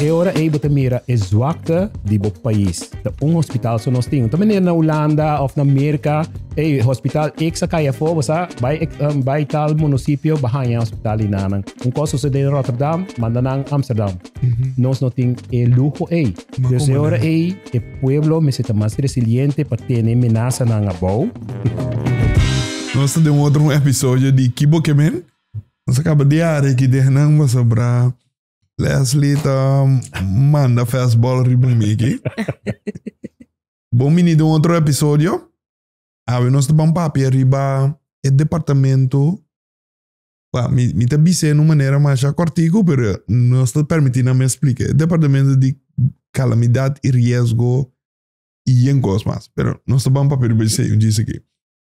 E ora ei bo ta mira e zwakte di bo pais. Ta un hospital so nos tin. Ta manera na Hulanda of na Merka. Ei, hospital ex a kai afo, bo sa. Bai, um, bai tal munisipio, bo haña hospital ei nanan. Un kos sosodé na Rotterdam, manda nan Amsterdam. Nos no tin e luho ei. Dus e ora ei e pueblo mester ta mas resiliente pa tene menasanan abou. Nos ta den otro un episodio di Ki bo ke men? Nos a kaba di arekidenan pasobra. Leslie ta manda fastball riba un miki. Bom bini de un otro episodio. Awe nos ta ban papia riba e departamento. Wa, mi, mi ta bise nu manera masha cortico, pero nos ta permiti na me explica. E departamento di calamidad y riesgo y yen cos mas. Pero nos ta ban papia riba esei un djis aki.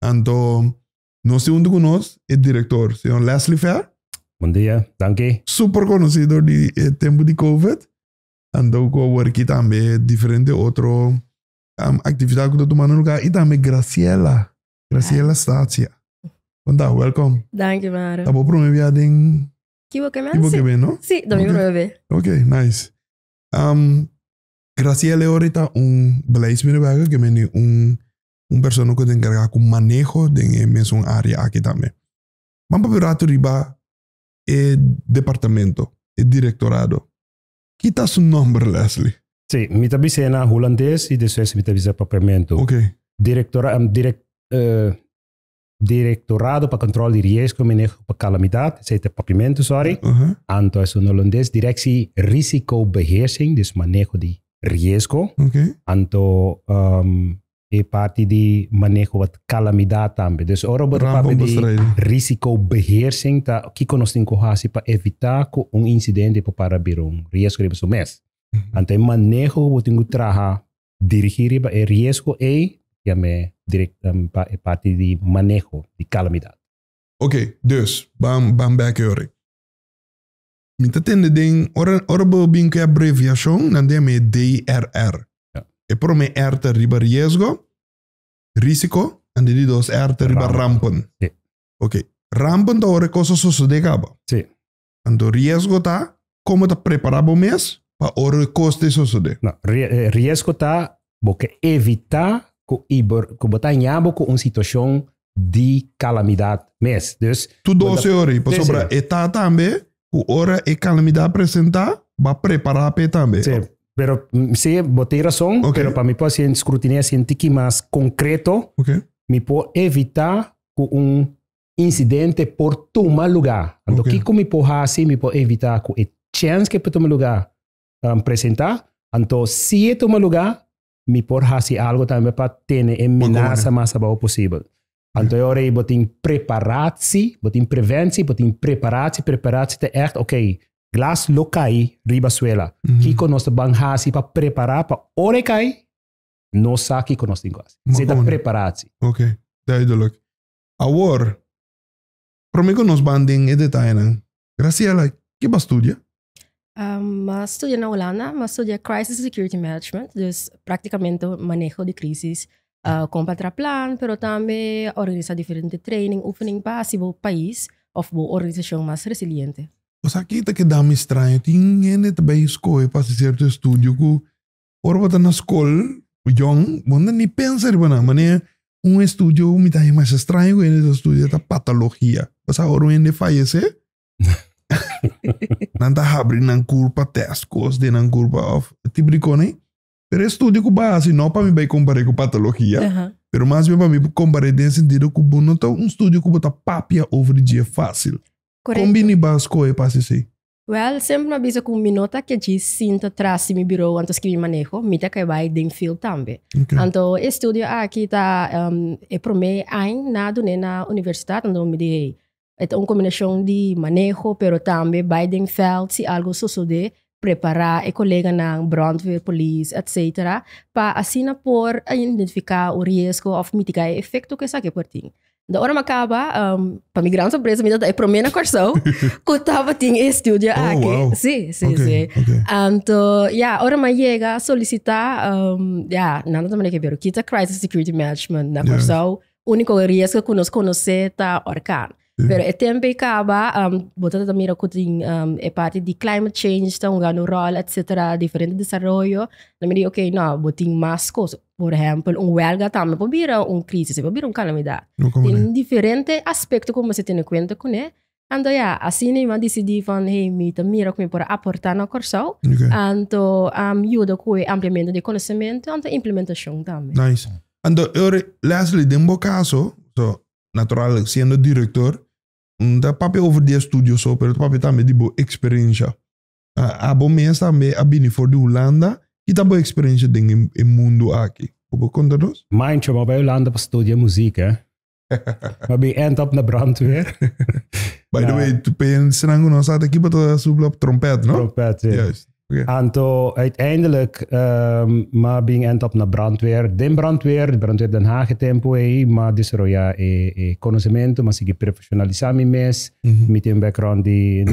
Anto, Nos tin hunto cu nos e director, señor Leslie Fair. Bon dia, danki. Super conocido di e tempo di Covid. Anto cu awor aki tambe diferente otro um actividad cu ta tumando lugar. Y tambe Graciela, Graciela Stacia. Con ta, welcom. Danki, Maro. Ta bo prome bia den. Kibo ke men. Kibo ke men, no? Si, ta mi prome be. Ok, nice. Um, Graciela e ora ta un beleidsmedewerker ke men di un un persona ku ta enkargá ku maneho den e mesun área aki tambe. Man papia un ratu riba e departamento, e direktorado. Ki ta su nòmber, Leslie? Sí, mi ta bisa e na hulandes i despues mi ta bisa papiamentu. Oke. Direktora, direk, eh, Directorado pa Control di Riesgo, Maneho pa Calamidad, ese te papimento, sorry. Uh -huh. Anto es un holandés, Directie Risicobeheersing, dus manejo di riesgo. Okay. Anto um, e parte di manejo wat calamidad tambe. Dus ora bo papi di risicobeheersing, ta kiko nos tin kohasi pa evita ko un incidente pa para bira un riesgo riba su mes. Uh -huh. Anto e manejo bo tin traha dirigí riba e riesgo ei yam'é directamente pa e parti di maneho di calamidad. Ok, dus, ban ban bek yo'ri. Mi ta tende den, ora ora bo bin cu e abreviacion nan den yam'é e DRR. Ja. E prome R ta riba riesgo, risico, and e di dos R ta riba rampen. Rampen. Si. Ok, rampen ta ora e cosa sosode caba. Si. Anto riesgo ta, Komo ta prepará bo mes pa ora e kos ta e sosodé? No, riesgo ta bo ke evitá ku i bo ku bo ta hañá bo ku un situashon di kalamidat mes. Dus. Tu dose ora i pasobra e ta tambe ku ora e kalamidat presentá bo a prepará pa e tambe. Sí, pero sí, bo tin rason, pero pa mi por haciendo scrutinia así un tiki mas concreto, mi por evitá ku un incidente por tuma luga. Anto okay. kiko mi por hasi, mi por evita ku e chance ke por tuma luga um, presenta, anto si e tuma luga, mi por hasi algo tambe pa tene e menasa mas abao posibel. Anto e ora bo tin preparatsi, bo tin preventie, bo tin preparatsi, preparatsi te echt, ok, glas lo kai riba suela. Mm -hmm. Kiko nos te ban hasi pa prepara pa ora kai, no sa kiko nos tin hasi. Zeta preparatsi. Ok, duidelijk. Awor, promé ku nos ban den e detayenan, Graciela, ke b'a studia? Um, a studia na Holanda, m'a studia Crisis Security Management, dus praktikamente maneho di krisis, uh, kon pa tra plan, pero tambe organisa diferente training, oefening pa hasi bo pais of bo organisashon mas resiliente. O sa, ke ta kedáme straño, tin hende ta bai skohe pa hasi sierto estudio ku Ora bo ta na skol, bo yòn, bo no ta ni pensa riba nan. Manera un estudio ku mi ta haña masha straño ku hende ta studia ta patologia. Pasá ora un hende fayesé, nan ta habri nan kur pa tèst kos den nan kur pa òf e tipo di kosnan ei. Pero e studio ku bo a hasi, no pa mi bai kompar'é ku patologia, pero mas bien pa mi bo kompar'é den e sentido ku bo no ta un studio ku bo ta papia over dje fásil. Kon bini bo a skohe pa hasi esei? Wèl, semper mi a bisa ku mi no ta ke djis sinta tras di mi birou anto skirbi maneho, mi ta ke bai den fild tambe. Anto e studio aki ta e promé ain na dun'é na universitat, anto mi di hey, e ta un kombinashon di maneho pero tambe bai den vèld si algu sosodé, prepará e koleganan, bròndweer, polis, etsetera, pa asina por identifiká un riesgo òf mitigá e efekto ku esaki por tin. De ora me acaba, um, para mi gran sorpresa, mi e primer na Corsou, que estaba en el estudio oh, aquí. Wow. Sí, sí, okay, sí. Okay. Anto, ya, yeah, ora me llega solicitar, um, ya, yeah, nada também que ver, quita Crisis Security Management na Corsou, yeah. único riesgo que nos conoce ta orcano. Pero e tempo acaba, um, botando também mira que tem um, é parte de climate change, está um grande rol, etc. Diferente desenvolvimento. Na medida, ok, não, botem mais coisas. Por ehempel, un huelga tambe por bira un crisis, e por bira un calamidad. No como Tin diferente aspecto cu mester tene cuenta cu ne. Anto ya, asina mi a dicidi van hey, mi ta mira cu mi por a aporta na Cor-sao. Okay. Anto am yuda cu e ampliamento di conocemento, anto implementacion tambe. Nice. Anto, ora, Leslie, den bo caso, so, natural, siendo director, no ta papia over di estudio so, pero ta papia tambe di bo experiencia. Abo mes tambe a bini for di Hulanda. Kita bo eksperensia den e mundu aki? Bo por konta nos? Mancho, mi a bai Hulanda pa studia muzik. Mi a bin end up na brandweer. By the way, pa esnan ku no sa ta kipa ta supla trompet, no? Trompet, si. Juist. Okay. Anto uiteindelijk, um, mi a bin end up na brandweer. Den brandweer, brandweer Den Haag e tempo ei, mi a desaroya e, e conocemento, mi a sigui profesionalisá mi mes. Mi tin un background di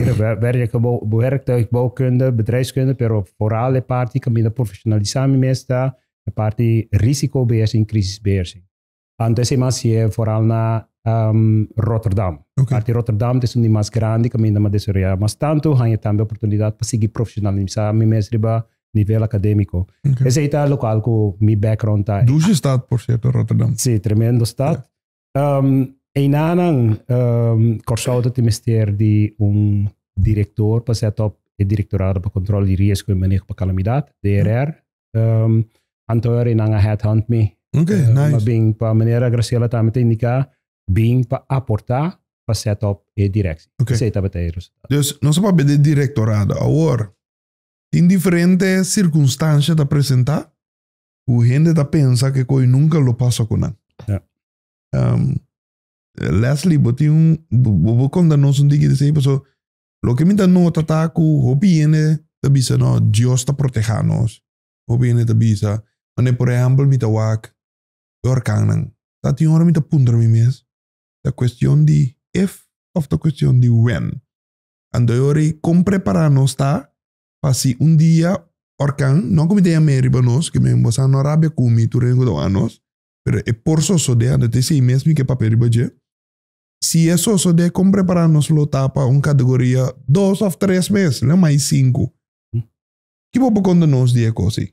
werktuigbouwkunde, bedrijfskunde, pero vooral e parti ku mi ta profesionalisá mi mes ta e parti risikobeheersing, krisisbeheersing. Antes e mas yé vooral na Rotterdam. Parti Rotterdam ta esun di mas grandi ku mi na desaroyá. Mas tantu haña tambe oportunidat pa sigui profesionalisá mi mes riba nivel akademiko. Esei ta lokal ku mi background ta. Dushe stad, por sierto, Rotterdam. Sí, tremendo stad. Um, Einanan, um, Corsou te mester di un director para set op e Directorado para Controle de Riesgo e Manejo para Calamidad, DRR. Um, Antoer e nan a headhunt me. Okay, uh, nice. Maar bing, pa meneer Graciela tamen te indica, bing pa aporta pa set op e directie. Okay. Zeta bete resultado. Dus, no se pa bede directorado. Awor, tin diferente circunstancia ta presenta, ku hende ta pensa ku e koi nunka lo pasa ku nan. Um, Leslie, bo tin un, bo, bo konta nos un tiki di sei, paso lo ke mi ta nota ta ku hopi hende ta bisa no, Dios ta proteha nos. Hopi hende ta bisa, mane por ehempel mi ta wak e orkannan. Ta tin ora mi ta puntra mi mes, ta kuestion di if of ta kuestion di when? Anto e ora kon prepara nos ta pa si un dia orkan no ku mi ta yam'é riba nos, ke men bosa no rabia ku mi tur den ku ta wak nos, pero e por sosodé, anda ta esei mes mi ke papia riba dje. Si e sosodé, kon prepará nos lo ta pa un kategoria dos òf tres mes, lo mai sinku? Ki bo por konta nos di e kos ei?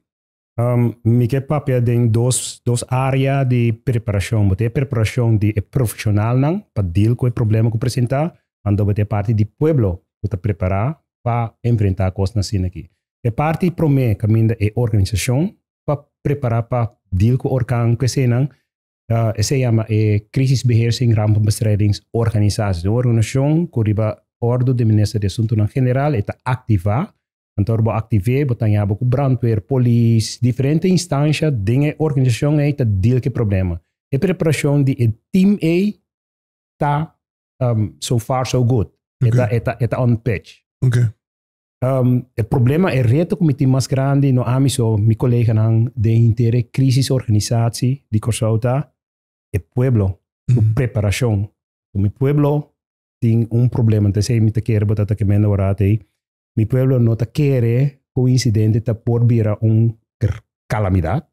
Um, mi ke papia den dos, dos área di preparacion. Bo ta e preparacion di e profesionalnan pa deal cu e problema cu presenta, anto bo ta e parti di pueblo cu ta prepara pa enfrenta cosnan asina aki. E parti prome caminda e organisacion pa prepara pa deal cu orkan cu esenan, uh, esei yama e Crisisbeheer en Rampenbestrijdings Organisatie. Un organisacion cu riba ordo di Minister di Asuntonan General e ta activa Kantoor bo activé, bo ta ñabo cu brandweer, polis, diferente instancia den e organisacion ey ta deal cu e problema. E preparacion di e team ey ta um, so far so good. E ta, e ta, e ta on pitch. Okay. Um, e problema, e reto cu mi tin mas grandi, no ami so, mi coleganan den hinter e crisis organisatie di Corsou ta e pueblo, su Mhm. preparacion. Mi pueblo tin un problema, enta esey mi ta kere bo ta ta kemenda warat ey. Mi pueblo no ta kere cu un incidente ta por bira un calamidad.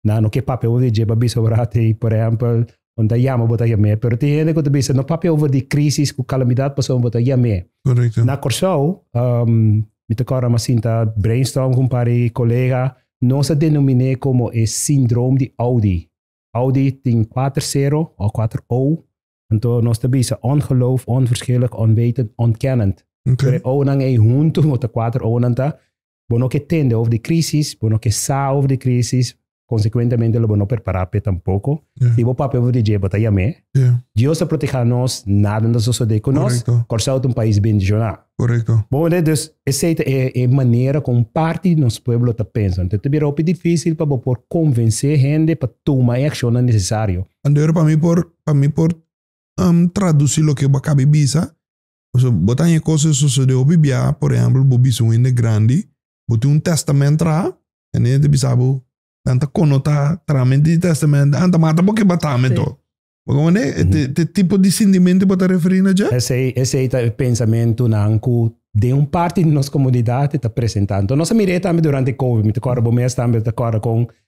Na no ke papia over dje pa bisa ora te, por ejempel, un ta yama bo ta yam'e. Pero tin hende cu ta bisa, no papia over di crisis cu calamidad pasobra bo ta yam'e. Correcto. Na Corsou, um, mi ta corda mi a sinta brainstorm cu un par di colega, nos a denominé como e sindroom di Audi. Audi tin cuater cero, o cuater O, Anto nos ta bisa ongeloof, onverschillig, onwetend, ontkennend. Okay. Tre owonan ei huntu, ota kuater owonan ta, bo no ke tende over de krisis, bo no ke sa over de krisis, konsekuentemente lo bo no perpará p'e tampoko. Yeah. Si bo papia over de dje, bo ta yam'é. Yeah. Dios ta protegá nos, nada no ta sosodé ku nos. Correcto. Kòrsou ta un pais bendishoná. Correcto. Bon mira, dus esei ta e, e manera ku un parti di nos pueblo ta pensa. Anto ta bira hopi difísil pa bo por konvensé hende pa tuma e akshonnan nesesario. Anto ora pa mi por pa mi por traduci loke bo a caba e bisa. Pasobra bo ta haña cos e sosode hopi biaha. Por ehempel, bo bisa un hende grandi, bo tin un testament traha, e hende ya ta bisa bo, nan ta cono ta trahamento di testament, a nan ta mata bo cu e batame dor. Bo comprende? Ta e tipo di sintimento cu bo ta referi na dje. Esey, esey ta e pensamentonan cu den un parti di nos comunidad e ta presenta. Enton, nos a mira e tambe durante e covid. Mi ta corda, bo mes tambe ta corda con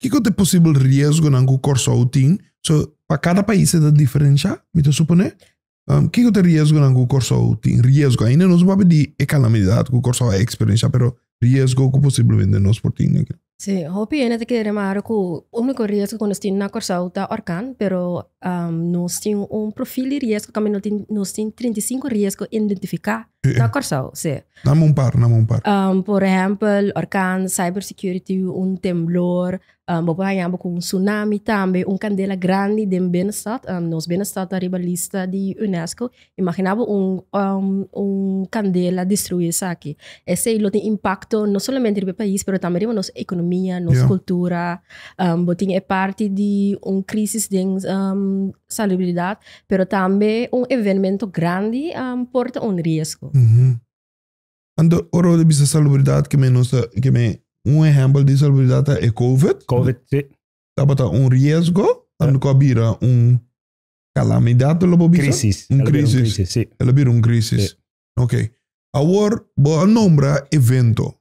Kiko ta e posibel riesgonan ku Kòrsou tin? So, pa kada pais e ta diferenshá, mi ta suponé. Kiko ta e riesgonan ku Kòrsou tin? Riesgo, ainda nos no papia di e kalamidat ku Kòrsou a eksperenshá, pero riesgo ku posiblemente nos por tin akí. Sí, hopi hende ta kere mara ku úniko riesgo ku nos tin na Kòrsou ta orkan, pero nos tin un profil di riesgo kaminda nos tin trinta i sinku riesgo identifiká. E, e. Na Corsau, sí. Na un par, na un par. Um, por ejempel, orkan, cybersecurity, un temblor, um, bo por hañabo con un tsunami tambe, un candela grandi den binnenstad, um, nos binnenstad ta riba lista di UNESCO, imaginabo un, um, un candela destruí esaki. Esei lo tin impacto no solamente riba e pais, pero tambe riba nos economia, nos yeah. cultura, um, bo tin e parti di un crisis den um, salubridad, pero tambe un evenmento grandi por ta un riesgo. Anto, ora ta bisa salubridat, ke men nos ta, ke men un ehèmpel di salubridat ta e COVID. COVID, si. Tabata un riesgo, anto ku a bira un kalamidat, lo por bisa? Krisis. Un krisis. El a bira un krisis. Ok. Awor bo a nombra evento.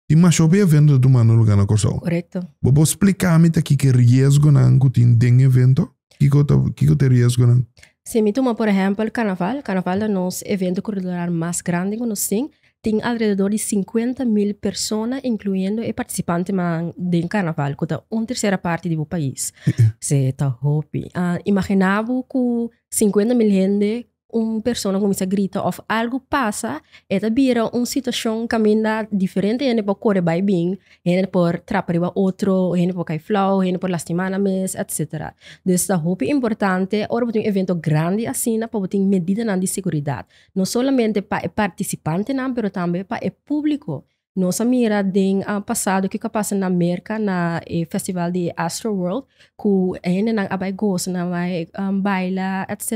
Tin mas hopi evento ta tumando luga na Kòrsou. Korekto. Bo por splika mi ta kiko e riesgonan ku tin den evento? Kiko ta kiko ta e riesgonan? Si mi tuma por ehèmpel Karnaval. Karnaval ta nos evento kultural mas grandi ku nos tin. Tin alrededor di sinkuenta mil persona inkluyendo e partisipantenan den Karnaval ku ta un tersera parti di bo pais. Se ta hopi. Imaginá bo ku sinkuenta mil hende un persona kuminsá grita òf algu pasa e ta bira un situashon kaminda diferente hende por kore bai bin hende por trapa riba otro hende por kai flou hende por lastimana mes etcetera dus ta hopi importante ora bo tin un evento grandi asina pa bo tin medidanan di seguridat no solamente pa e partisipantenan pero tambe pa e públiko Nos a mira den pasado kico a pasa na Merca na e festival di Astro World cu e hendenan a bai goza nan a bai baila etc.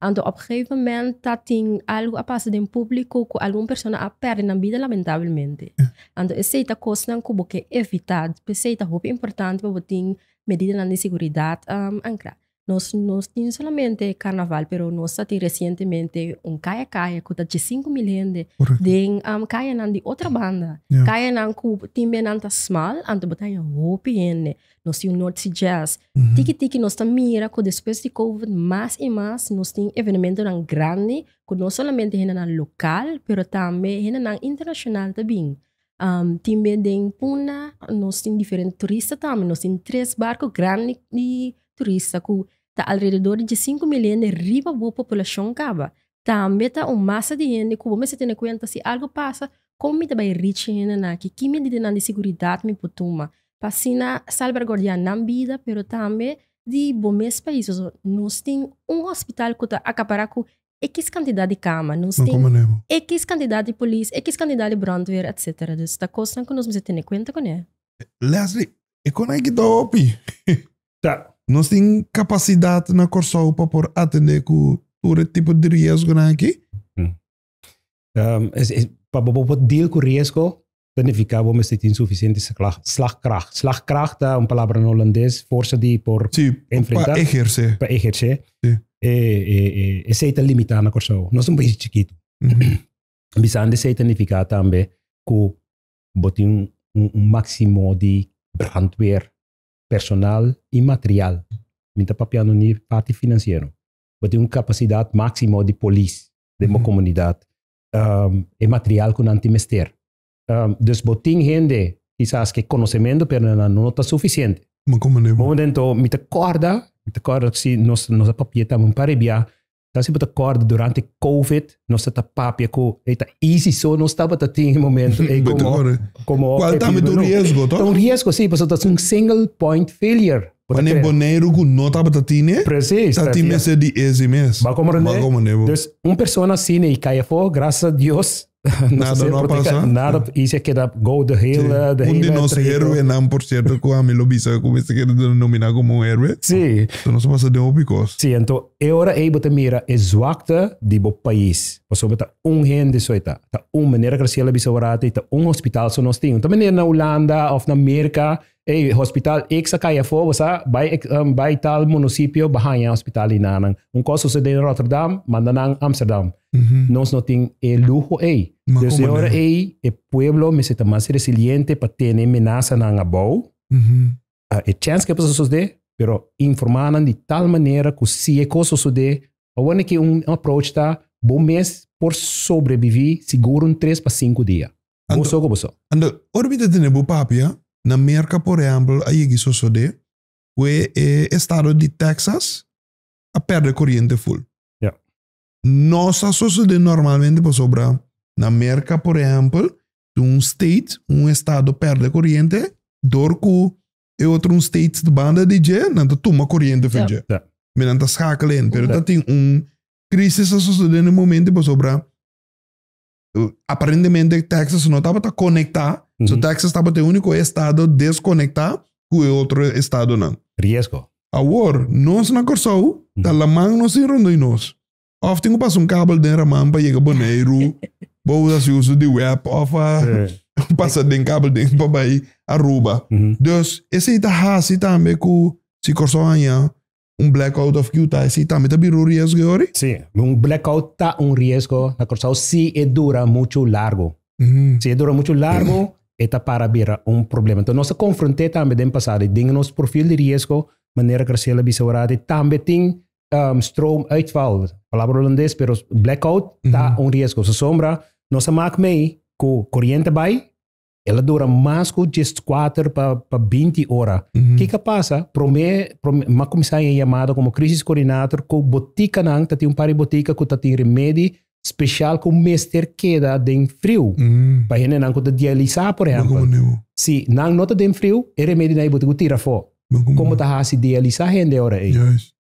Anto op gegeven moment ta tin algo a pasa den publico cu algun persona a perde nan bida lamentablemente anto esey ta cosnan cu bo ke evita p'esey ta hopi importante pa bo tin medidanan di seguridad ancra. Nos no tin solamente carnaval pero nos ta tin recientemente un kaya kaya ku ta dje sinku mil hende Correcto. den am kayanan di otra banda. Ja. Kayanan ku tin benan ta smal anto bo ta haña hopi hende. Nos tin un North Sea Jazz. Mhm. Tiki tiki nos ta mira ku despues di covid mas i mas nos tin evenementonan grandi ku no solamente hendenan lokal pero tambe hendenan internashonal ta bin. tin be den puna nos tin diferente turista tambe nos tin tres barco grandi di turista ku ta alrededor di djesinku mil hende riba bo populashon kaba tambe ta un masa di hende ku bo mester tene kuenta si algu pasa kon mi ta bai rich e hendenan aki ki medida nan di seguridat mi por tuma pa asina salberguardia nan bida pero tambe di bo mes pais nos tin un hospital ku ta akapara ku X kantidat di kama, nos tin. Nan kome leu. X kantidat di polis, X kantidat di bròndweer, etsetera. Dus ta kosnan ku nos mester tene kuenta kuné. Lesli, E kon aki ta hopi. Ta. Nos tin kapasidat na Kòrsou pa por atendé ku tur e tipo di riesgonan aki? Hm. Pa bo por deal ku riesgo planifiká bo mester tin sufisiente slagkracht. Slagkracht ta un palabra na Holandes, forsa di por enfrentá. Sí, pa ehersé. Pa ehersé. Sí. Esei ta limitá na Kòrsou. Nos ta un país chikitu. Bisando esei ta nifiká tambe ku bo tin un máksimo di brandweer, personal i material. Mi ta papiando ni parti finansiero. Bo tin un kapasidat máksimo di polis den bo komunidat. um, e material ku nan tin mester. Um, dus bo tin hende kisas ke konosementu pero nan no ta sufisiente. Ma como ne bo? Momen ento mi te korda, mi te korda si nos nos a papia ta un parebia, ta si bo te korda durante COVID nos ta papia ku eta easy so nos taba ta tin momento e como como Kwal ta un riesgo to? Un riesgo si, paso ta un single point failure. Bo ta kere. Mane Boneiru ku no tabata tine. Presis. Ta tin mester di ese mes. Ba komo rende. Ba komo rende bo. Dus un persona asina i kai afó, grasas a Dios nos a ser protegá. Nada no a pasa. Nada i si a keda go de hele trayekto. Si. Un di nos heroenan por sierto ku ami lo bisa ku mester keda denominá komo un heroe. Si. Lo nos a pasa den hopi kos. Si, anto e ora ei bo ta mira e zwakte di bo pais. Pasobra ta un hende so e ta. Ta un, manera Graciela a bisa ora ta i ta un hospital so nos tin. No ta manera na Hulanda òf na Merka Ey, hospital X a cay afo, bo sa, bay X, um, bay tal munosipio, bo hanja hospital di nanan. Un cos sucede in Rotterdam, manda nan Amsterdam. Nos no tin e luho ey. Ma Dus e como ora nan? ey, e pueblo mester ta mas resiliente pa tene menasanan abou. A e chance cu e por ta sucede, pero informa nan di tal manera cu si e cos sucede, awor neki un approach ta, bo mes por sobrevivi sigur un tres pa cinco dia. Bo so ku bo so. Ando, ora mi ta tene bo papia, na Merka por ehèmpel a yegi sosodé ku e estado di Texas a pèrdè koriente ful. Ya. Nos a sosodé normalmente pasobra na Merka por ehèmpel si un state, un estado pèrdè koriente dor ku e otro un state ta banda di dje nan ta tuma koriente fen dje. Ya. Mi nan ta skakla en. Pero ta tin un krisis a sosodé na e momente pasobra aparentemente Texas no tabata conecta. Mm So Texas tabata el único estado desconecta cu e otro estado nan. Riesgo. Awor, nos na Corsou ta mm laman nos tin rondoi nos. Of tin cu pasa un kabel den raman pa yega Boneiru, bo a haci uso di web of a pasa den kabel den pa bay Aruba. Mm Dus esey ta haci tambe cu si Corsou haña Un blackout of Utah e si tambe ta bira un riesgo e ori? Sí, un blackout ta un riesgo na Kòrsou si e dura muchu largu. Si e dura muchu largu, e ta para bira un problema. Enton nos a konfront'é tambe den pasado i den nos profil di riesgo, manera Graciela a bisa ora, di tambe tin stroomuitval, palabra Holandes, pero blackout ta un riesgo. Sosombra nos a mak mei ku koriente bai, El a dura mas cu diescuater pa, pa binti ora. Ki ka pasa? Promé, promé, ma cuminsá e yamada como crisis coordinator cu boticanan, ta tin un par di botica cu ta tin remedi special cu mester keda den friu. Pa hendenan cu ta dialisá, por Bo ehempel. como neu. Si nan no ta den friu, e remedinan e botica cu tira afó. Como ta haci idealisa hende ora ey.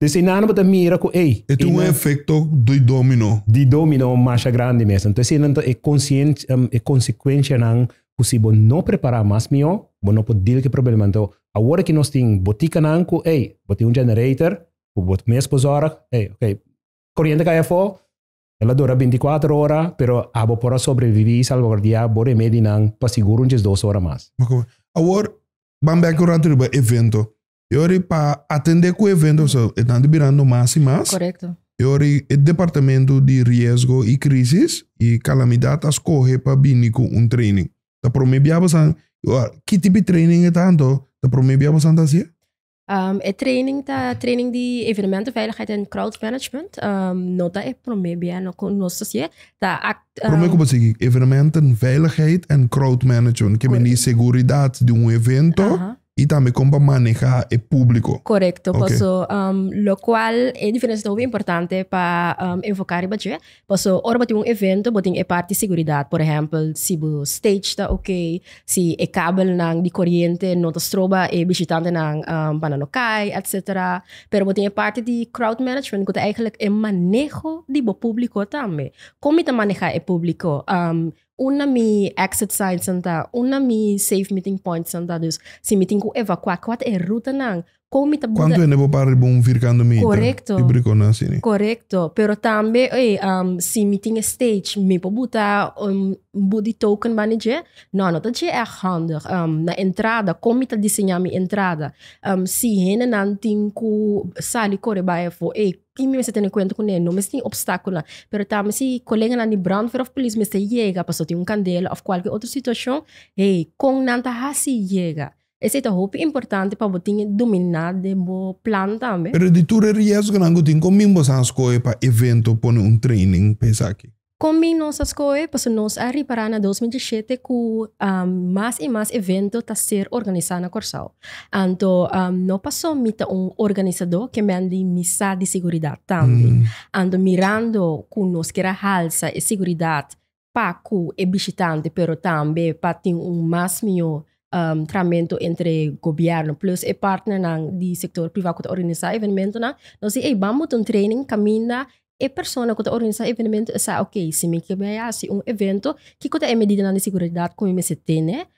Des ey nan bo ta mira cu ey. E tin un efecto di domino. Di domino masha grandi mes. Enton esey nan ta e consecuencianan cu si bo no prepara mas mihó, bo no por deal cu e problema. Enton awor aki nos tin boticanan cu ey, bo tin un generator cu bo mes por zorg, ey, ok, coriente cay afó, El a dura binticuater ora, pero abo por a sobreviví i salvaguardiá bo remedinan pa sigur un diesdos ora mas. Oke. Awor, ban bèk un ratu riba evento. E ora pa atendé ku e evento so e tantu birando mas i mas. Korekto. E ora e Departamentu di Riesgo i Krísis i Kalamidat a skohe pa bini ku un training. Ta promé bia bosan, i ora ki tipi training e ta, anto ta promé bia bosan ta hasié? Um, e training ta training di evenemento veiligheid en crowd management. Um, no ta e prome bia no con nos sosie. Ta act. Um, prome como se evenemento veiligheid en crowd management. Que meni seguridad di un evento. Uh -huh. Y también como maneja e público. Correcto. Okay. Paso, um, lo cual e diferencia ta importante pa um, enfocar riba je. Paso ora bo tin un evento bo tin e parti seguridad, por ehempel si bo stage ta ok, si e kabelnan di koriente no ta stroba e bishitantenan pa nan no kai etc. Pero bo tin e parti di crowd management ku ta eigenlijk e maneho di bo publico tambe, kon mi ta maneha e publico, un na mi exit signs nan ta, un na mi safe meeting points nan ta, dus si mi tin ku evacua kual ta e rutanan kon mi ta buga. Kuantu hende por para riba un virkando mita? Korekto. Di brikon nan así ni? Korekto. Pero tambe oye si mi tin e stage mi por buta un bud di token banda dje? No, no ta dje èg handig. Na entrada kon mi ta diseñá mi entrada? Si hendenan tin ku sali kore bai afó ey tin mi mester tene kuenta kuné, no mester tin opstákulonan. Pero tambe si koleganan di brandweer òf polis mester yega pasobra tin un kandela òf kualke otro situashon, hey kon nan ta hasi yega? Esei ta hopi importante pa bo tin e dominá den bo plan tambe. Pero di tur e riesgonan ku tin, kon min boso a skohe pa evento pone un training pa esaki? Kon min nos a skohe? Pasobra nos a ripará na dos mil diesiete ku mas i mas evento ta ser organisá na Kòrsou. Anto no pasó mi ta un organisadó kemendi mi sa di seguridat tambe. Anto mirando ku nos kier a halsa e seguridat pa ku e bishitante pero tambe pa tin un mas mihó tramentu entre gobièrnu plus e partnernan di sektor privá ku ta organisá evènmentunan. Nos di ey ban bot'un training kaminda e persona ku ta organisá evènmentu e sa okay si mi ke bai hasi un evento kiko ta e medidanan di seguridat ku mi mester tene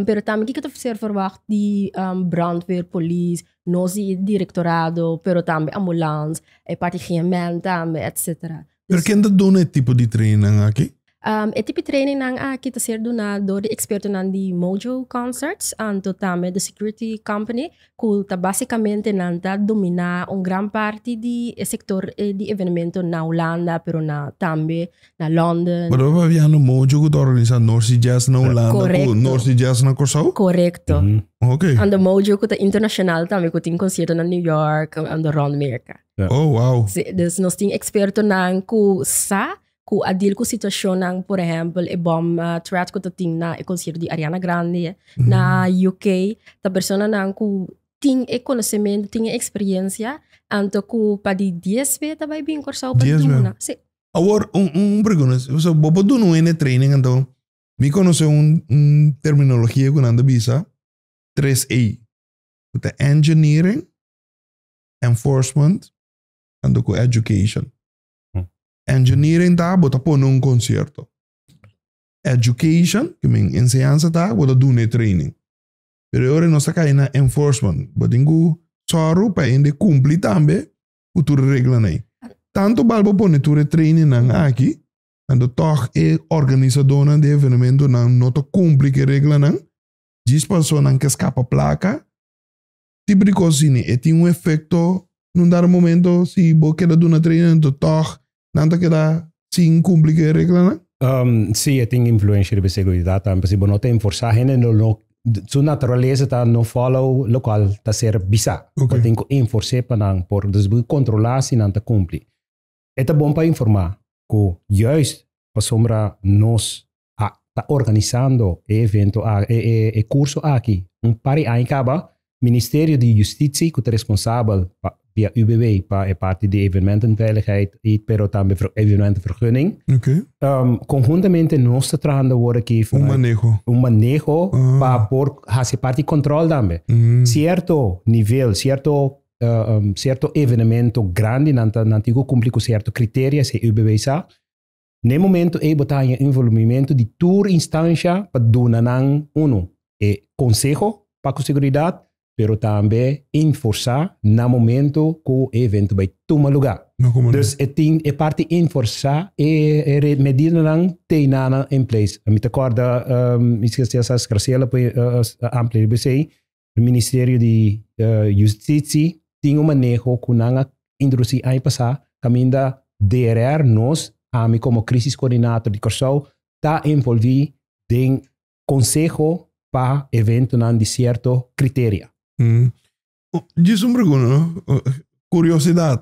pero tambe kiko ta ser verwagt di brandweer, polis, nos di direktorado pero tambe ambulans e parti higiènman tambe etsetera. Pero ken ta duna e tipo di trainingnan aki? Um, e tipo trainingnan aki ta ser duna dor di ekspertonan di Mojo Concerts anto tambe The Security Company, ku ta basikamente nan ta dominá un gran parti di e sektor eh, di evenementonan na Hulanda, pero na tambe na London. Pero papiando Mojo ku ta organisá Norsi Jazz na Hulanda ku Korekto. Norsi Jazz na Kòrsou? Korekto. Ok. Ando Mojo ku ta internashonal tambe, ku tin konsiertonan New York, ando rònt Merka. Yeah. Oh, wow. Sí, dus nos tin expertonan ku sa ku a deal ku situashonnan, por ehempel, e bom uh, threat ku ta tin na e konsierto di Ariana Grande mm. na UK, ta personanan ku tin e konosemento, tin e eksperyensia, anto ku pa di 10 be ta bai bin Kòrsou pa duna. Sí. Awor, un, un pregunta, so, bo po dunu ene training anto, mi konosi un, un terminologia ku nanda bisa 3A. Ku ta engineering, enforcement tanto ku education. Engineering ta bo ta pone un konsierto. Education, ke men enseñansa ta bo ta duna e training. Pero e ora nos ta kai na enforcement bo tin ku sòru pa hende kumpli tambe ku tur e reglanan ei. Tantu bal bo pone tur e trainingnan aki anto tòg e organisadónan di e evenementonan no ta kumpli ku e reglanan djis paso nan ke skapa plaka Tin prikosini, e tin un efekto. Na un dado momento, si bo keda duna treinamentu tòg, nan ta keda sin kumpli ku e reglanan? Sí, e tin influensha riba e seguridat tambe. Si bo no ta enforsá, hende lo no, su naturalesa ta no fòlow lokual ta ser bisá. Bo tin ku enfors'é pa nan por dus bo kontrolá si nan ta kumpli. E ta bon pa informá ku, yùist pasobra nos a ta organisando e evento a e e e curso aki un par di aña caba Ministerio di Justitie cu ta responsabel pa via UWW pa e parti di evenementenveiligheid y pero tambe ver evenementenvergunning Oké. um, conjuntamente nos ta trahando wor aki Un vanuit maneho. un maneho Ah. pa por haci parti di control tambe. Mm. Cierto nivel, cierto eh, um, cierto evenemento grande nan ta nan tin cu cumpli cu cierto criteria si UBW sa Na e momento ei bo ta haña un volumimiento di tur instancia pa duna nan, uno, e conseho pa cu seguridad, pero tambe inforsa na momento cu e evento bay tuma luga. Dus e tin e parti inforsa e medidanan teinana in place. Mi ta corda, mi scesi a sa Graciela poi amplia riba esey, E Ministerio di Yustici tin un maneho cu nan a introduci aña pasá caminda DRR nos, ami como Crisis Coordinator di Corsou, ta envolvi den conseho pa eventonan di cierto criteria. Djis un pregunta no, curiosidad.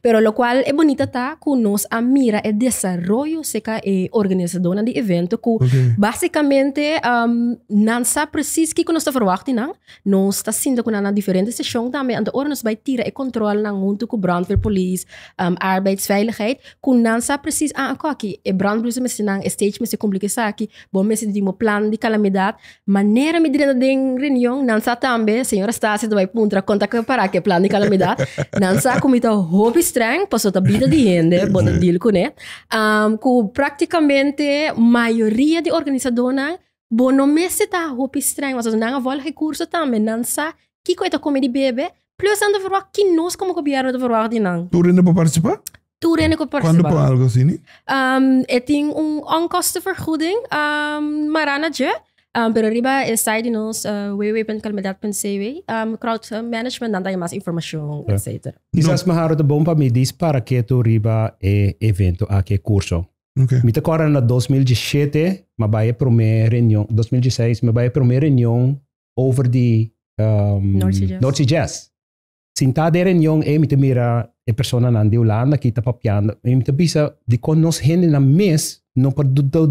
Pero locual e bonita ta cu nos a mira e desaroyo seca e organizadornan di evento cu okay. basicamente um, nan sa precies kiko nos ta verwacht di nan. Nos ta sinta cu nan na diferente station tambe. Anto ora nos bai tira e control nan junto cu brandweer police, um, arbeidsveiligheid, cu nan sa precies aan ah, koki e brandblussen mesti nan, e stage mesti cumpli ki saki, bon mesti di mo plan di calamidad. Manera mi drenta den reunion, nan sa tambe, señora Stasia ta bai puntra kon ta prepara ke plan di kalamidat. Nan sa ku mi ta hopi strèng, pasobra ta bida di hende, bo ta deal kuné. Um ku praktikamente mayoria di organisadónan bo no mester ta hopi strèng, mas as nan a vòlg e kurso tambe nan sa kiko e ta kume di bebe, plus nan ta verwagt, ki nos komo gobièrnu ta verwagt di nan. Tur hende por partisipá? Tur hende ku por Kuandu por algo asini? Um, e tin un onkostenvergoeding um, marana dje. Um, pero riba e site di nos uh, www.calmedad.cw um, crowd uh, management dan da mas informacion, yeah. etc. Quizás no. maharo te bon pa mi dis para que tu riba e evento a que curso. Okay. Mi te corre na 2017, ma bij e primer reunión, 2016, ma bij e primer reunión over di um, North Sea Jazz. North sea Jazz. Sintá den reunion ei mi ta mira e personanan di Hulanda ki ta papiando i mi ta bisa dikon nos hendenan mes no por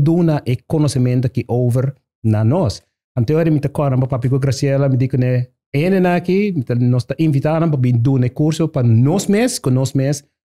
duna e konosementu ki over na nos. Antehoras mi ta kòrda nan pa papia ku Graciela, mi di kuné, E hendenan aki nos ta invitá nan pa bin duna e kurso pa nos mes ku nos mes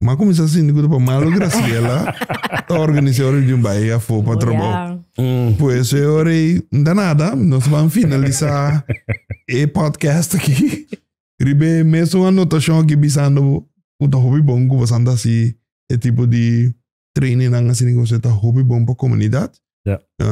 Ma comienza sin de pa malo Graciela ta organizar un reunión bij ella voor pa trabajo. Pues eh hora y da nada, nos van finalizar e podcast aquí. Ribe mes un anotación aquí bisando cu ta hopi bon cu pasan ta si e tipo di training nan asina cu ta hopi bon pa comunidad.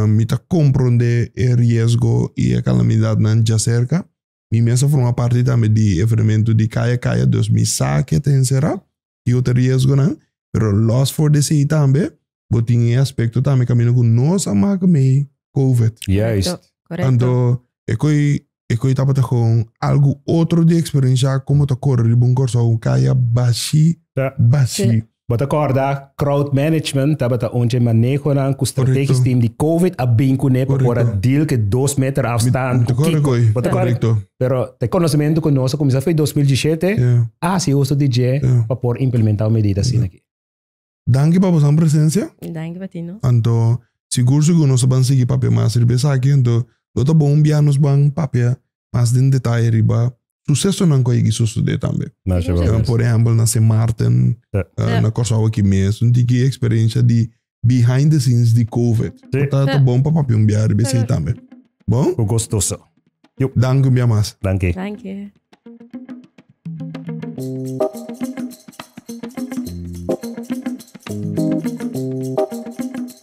Mi ta comprende e riesgo y e calamidadnan dja cerca. Mi mes a forma parti tambe di e evenementu di kaya kaya dus mi sa ke ta enserá i otro riesgonan, pero los for di esei tambe bo tin e aspekto tambe kaminda ku nos a maka mei covid. Juist. Anto e koi e koi tabata kon algu otro di eksperensiá kon bo ta kore riba un Kòrsou kaya bashi bashi. Bo ta corda crowd management tabata un dje manehonan cu strategisch team di Covid a bin cu ne pa por a deal cu e dos meter afstand cu kico. Bo ta corda? Pero ta e conocemento cu nos a cuminsa fo'i dos mil dieschete a haci uso di dje pa por implementa un medida asina aki. Danki pa boso presencia. Danki pa ti no. Anto sigur sigur nos a ban sigui papia mas riba esaki. Anto lo ta bon un bia nos ban papia mas den detaye riba susesonan cu a yegi sucede tambe. Na Aruba mes. Por ehempel na Sint Maarten, Ya. na Corsou aki mes, un tiki experiencia di behind the scenes di Covid. Si. Cu ta, ta Ya. bon pa papia un bia riba esey Segur. tambe. Bon? Cu gustoso. Yup. Danki un bia mas. Danki. Dankie.